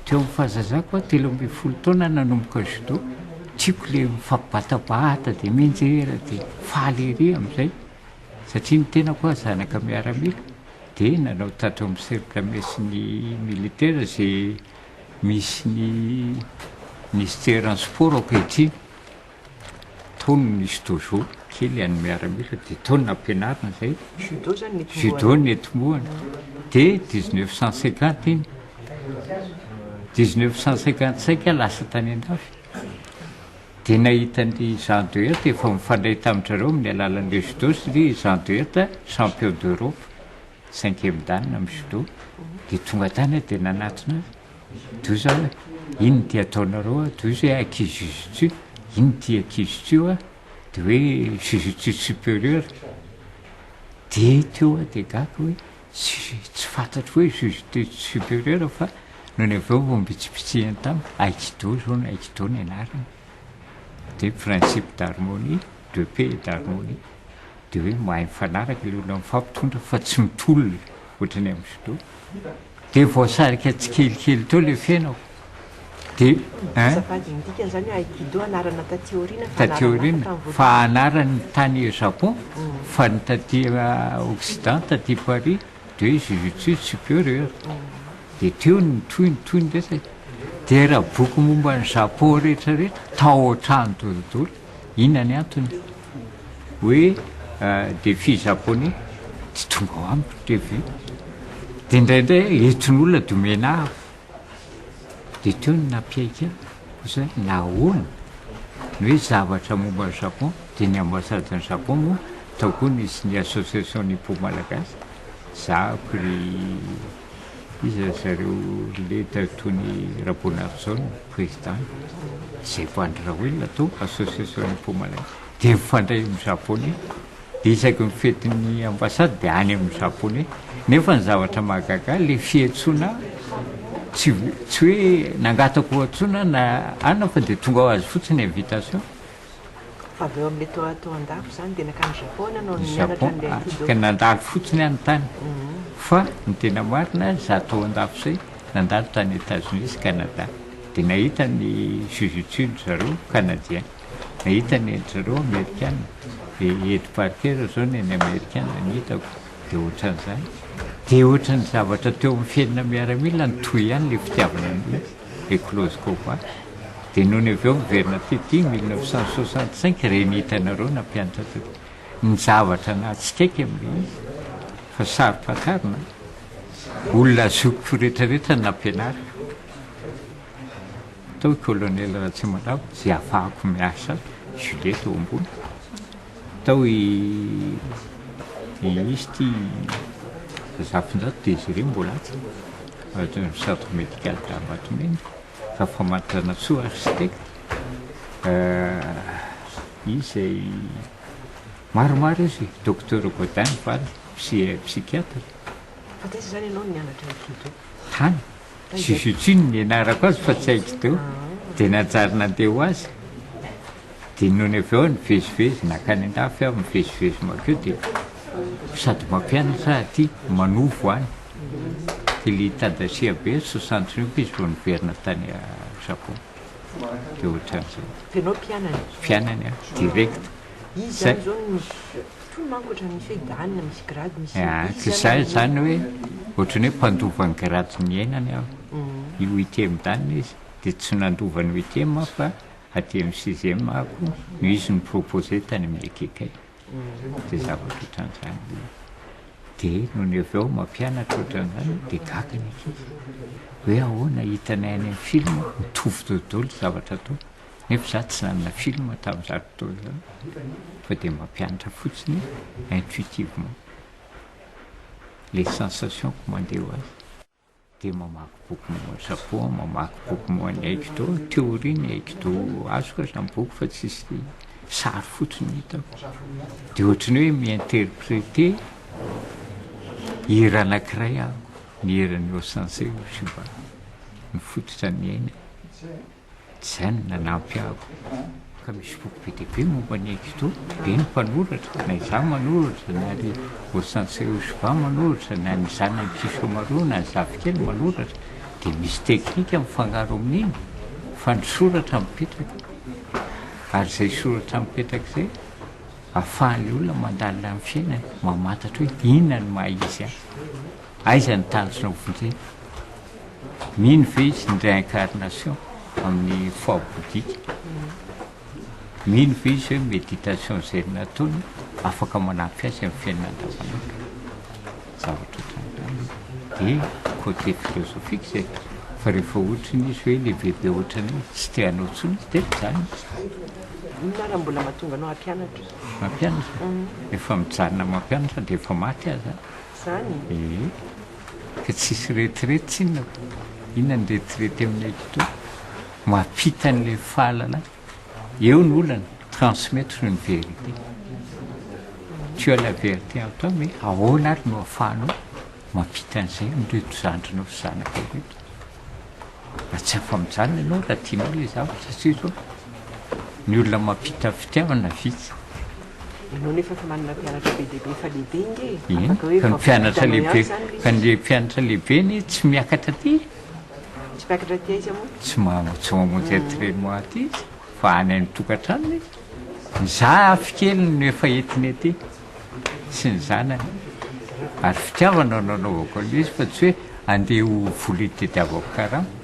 Teo amin'ny fahazazako aho, telo ambin'ny folo taona aho nanomboka judo. Tiako ilay mifampibatabata dia mianjera dia faly ery amin'izay. Satria ny tenako aho zanaka miaramila dia nanao tato amin'ny cercle messin'ny militaire izay misy ny ministère an'ny sport ankehitriny. Tao no nisy dojo kely an'ny miaramila dia tao no nampianarina izay. Judo zany ny tombohana. Judo ny tombohana. Dia 1950 iny. 1955 aho lasa tany an-dafy. Dia nahita an'i Jean de Hette efa mifandray tamin-dry amin'ny alalan'ilay judo satria i Jean de Hette champion d'Europe cinquième dan amin'ny judo. Dia tonga tany aho dia nanatona azy. Doza hoe inn ity ataonareo a? Doza hoe aki jujutsu, inn ity aki jutsu a? de hoe jujutsu superieur, de teo aho de gaga hoe tsy fantatro hoe jujutsu superieur fa nony avy eo vao mbitsibitsiany tamiko aikido zao no aikido ny anarany de principe d'harmonie de paix et d'harmonie de hoe mahay mifanaraka le olona mifampitondra fa tsy mitolona. ohatry ny amin'ny filoha, dia voasarika tsikelikely teo ilay fiainako. Dia eh? Azafady, ny dikan'izany hoe Aikido anarana taty aoriana fa Taty anarana aoriana, hafa tamin'ny fa voalohany. anarany tany Japon, fa ny taty ah, Occident, taty Paris, dia hoe Jujutsu Superior. Dia teo ny tohiny, tohiny rehetra e. Dia raha boky momba an'i Japon rehetrarehetra, tao an-trano tao daholo. Inona ny antony? Hoe dia fy Japoney tsy tonga ao amiko TV. Dia indraindray entin'olona dia omena avo. Dia teo ny nampiaiky ahy, koa izay nahoana? Ny hoe zavatra momba ny Japon, dia ny ambasadan'i Japon moa tao koa nisy ny Association Nippon Malagasy, zahako ry. Iza ry zareo leta toy ny Raboanarison no président? Izay efa Andry Raoelina atao association Nipomalay dia mifandray amin'ny Japonais dia isaky ny fetin'ny ambassade dia any amin'ny Japonais nefa ny zavatra mahagaga ilay fiantsoana tsy tsy hoe nangataka hoantsoina na anona fa dia tonga ho azy fotsiny invitation Fa avy eo amin'ilay toa toa an-dafy izany dia nankany Japon ianao no nianatra an'ilay aikido. Japon, afaka nandalo fotsiny aho ny tany. Fa ny tena marina, izaho toa an-dafy izay, nandalo tany Etazonia sy Kanada. Dia nahita ny jujutsu ry zareo Kanadien. Nahita ny an-dry zareo Amerikana. Dia i Ed Parker izao ny an'ny Amerikana ny hitako. Dia ohatran'izany. Dia ohatran'ny zavatra teo amin'ny fiainana miaramila nitohy ihany ilay fitiavana an'ilay izy. Éclose koa va? Dia nony avy eo miverina teto iny mille neuf cent soixante cinq ireny hitanareo nampianatra teto. Ny zavatra nahatsikaiky amin'ilay izy fa saro-pantarina, olona azoko retraretra ny nampianariko tao i Colonel Ratsimandrava izay afahako miasa Juliet tao ambony. Tao i Minisy ty Razafinjato dia izy ireo mbola atsy ao centre médical d'Ambatomena fa Famaritranatsoa architecte izy izay maromaro izy Docteur Gaudin ny vadiny psychiatre. Fa taiza izany ianao no nianatra io Tintin? Tany. Zuzuchin no nianarako azy fa tsy haiko teo, dia nanjary nandeha ho azy, dia nony avy eo nivezivezy nankany an-dafy aho mivezivezy mankeo dia sady mampianatra aty manovo any dia le Tadashi Abe ry soixante triomphs izy vao niverina tany Japon dia ohatran'izay. Ianao mpianany? Mpianany aho direct. Izy zany zao no. Tony manko ohatran'ny misy hoe Dan na misy grady misy izy zany. Ka izay izany hoe ohatran'ny hoe mpandova ny grady ny iainany aho. Io UTM Dan izy dia tsy nandova ny UTM aho fa aty amin'ny sixième ako no izy no proposer tany amin'ny EKK. Dia zavatra ohatran'izany ilay izy. Dia nony avy eo mampianatra ohatran'izany dia gaga ny ankizy. Hoe ahoana hitanay any amin'ny film mitovy dodolo zavatra ataony. Nefa za tsy nanana film tamin'izany fotoana izany fa dia mampianatra fotsiny intuitivement le sensation ko mandeha ho azy dia mamaky boky momba ny Japon, mamaky boky momba ny aikido, théorie ny aikido azoko aza ny boky fa tsisy sary fotsiny no hitako dia ohatran'ny hoe mi-interpréter hira anankiray aho ny hiran'i Osensei Oshiba ny fototra niainako. Tsy izany no nanampy ahy ka misy boky be dia be momba an'i Egito, be ny mpanoratra, na izaho manoratra, na ry Ossance Eusva manoratra, na ny zanany Kishomaru, na ny zafikely manoratra, dia misy teknika mifangaro amin'iny fa ny soratra mipetraka, ary izay soratra mipetraka izay ahafahan'ny olona mandalina ny fiainany, mamantatra hoe inona no maha izy ahy. Aiza ny taritrao fotony? Mino ve izy ny réincarnation amin'ny foi bouddhique? Mino ve izy hoe méditation izay nataony afaka manampy azy amin'ny fiainana andavanandro? Zavatra ohatran'izany e! Dia côté philosophique izay fa rehefa ohatran'ny izy hoe ilay bebe ohatran'ny hoe tsy te hanao intsony izy dia mijanona. Inona ary no mbola mahatonga anao hampianatra? Mampianatra? Efa mijanona mampianatra na dia efa maty aza. zany e. Ee, ka tsisy retirety tsinona fa inona ny retirety aminay toa mampita an'ilay fahalana eo ny olana transmettre une vérité tu as la vérité en toi mais ahoana ary no afahanao mampita an'izay amin'ireto zandrinao sy zanakao ireto? Raha tsy afa-mijanona ianao raha tianao ilay zavatra satria izao ny olona mampita fitiavana vitsy. Ianao nefa efa manana mpianatra be dia be efa lehibe nge. Eny, fa ny mpianatra lehibe, fa ny mpianatra lehibe anie tsy miakatra aty e. Tsy miakatra aty aiza moa? Tsy maha, tsy mamonjy entraînement aty izy fa any an-tokantranony izy. Ny zafy keliny no efa entiny aty. sy ny zanany ary fitiavana no anaovako an'ilay izy fa tsy hoe andeha ho vola itadiavako karama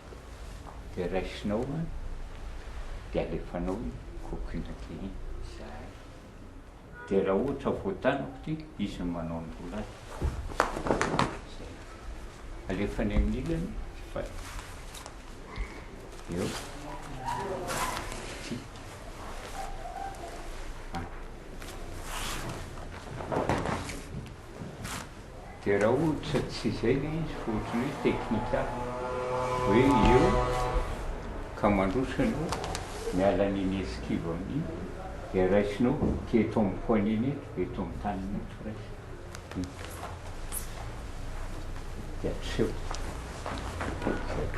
dia raisinao an, dia alefanao iny coquille kely iny izahay, dia raha ohatra voatanako ity, izy no manao ny rolany, zay, alefa any amin'ny ilany, fa eo, ity, an. Dia raha ohatra tsy izay ilay izy fa ohatran'ny hoe teknikal, hoe eo ka mandroso ianao miala an'iny esquive amin'iny dia raisinao ity eto amin'ny poignet-ny eto dia eto amin'ny tanana eto raisina. Dia aseho. Izay.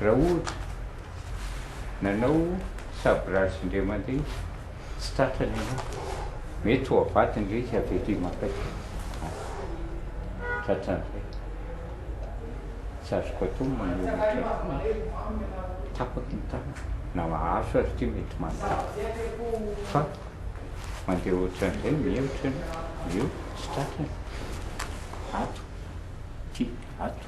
Raha ohatra, nanao saborazy indray mandeha tsy tratrany ianao, mety ho avadiny ilay izy avy aty maka aty. Tratran'izay. Tsy azoko atao ny maneho ny tratrako. Tapaky ny tanana. Na mahazo aza ity mety manotapaka. Fa mandeha ohatran'izay mihemotra ianao, eo tsy tratrany. Ato, aty, ato.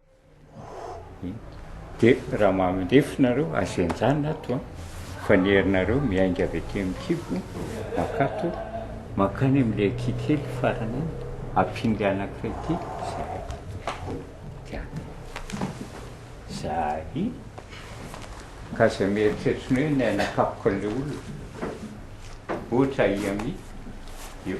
Dia raha mandefy nareo aza enjana ato an! Fa ny herinareo miainga avy aty amin'ny kibo mankato mankany amin'ilay kikely farany iny, ampinga anankiray ity zahay. Dia zahay ka aza mieritreritra ny hoe ny anakapoka an'ilay olona, ohatra ahy amin'io.